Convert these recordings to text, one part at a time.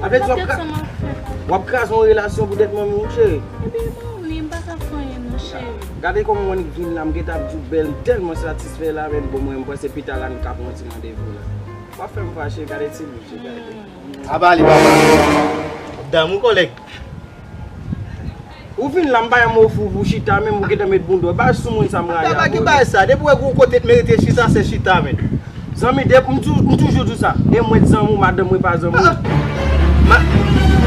Apre di wap kraze Wap kraze yon relasyon pou tèt mwen menm cheri Ebyen banm li m paka fè anyen non cheri Gade kòman mwen vin la m gentan ap di w bèl m tèlman satisfè la menm bon mwen m panse pita la nou ka pran yon ti randevou la Pa fèm fache gade ti bouch li gade Aba li papa Damou kòlèg. Ou vin la m pa yon mo fou pou chita menm ou gentan met boundon bay sou moun sa m rale abone. Chita ki bay sa, depi wè gen yon kote t merite chita se chita men. Zanmi de m toujou di w sa, e mwen t zanmi w madanm mwen pa zanmi w.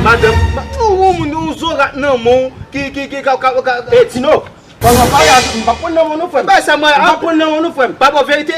Madanm yon moun yon zorat nan men w ki ka. E Tino, m pap pran nan men w non frè m. Bay sa m rale, m pap pran nan men w non frè m. Pa bay w verite.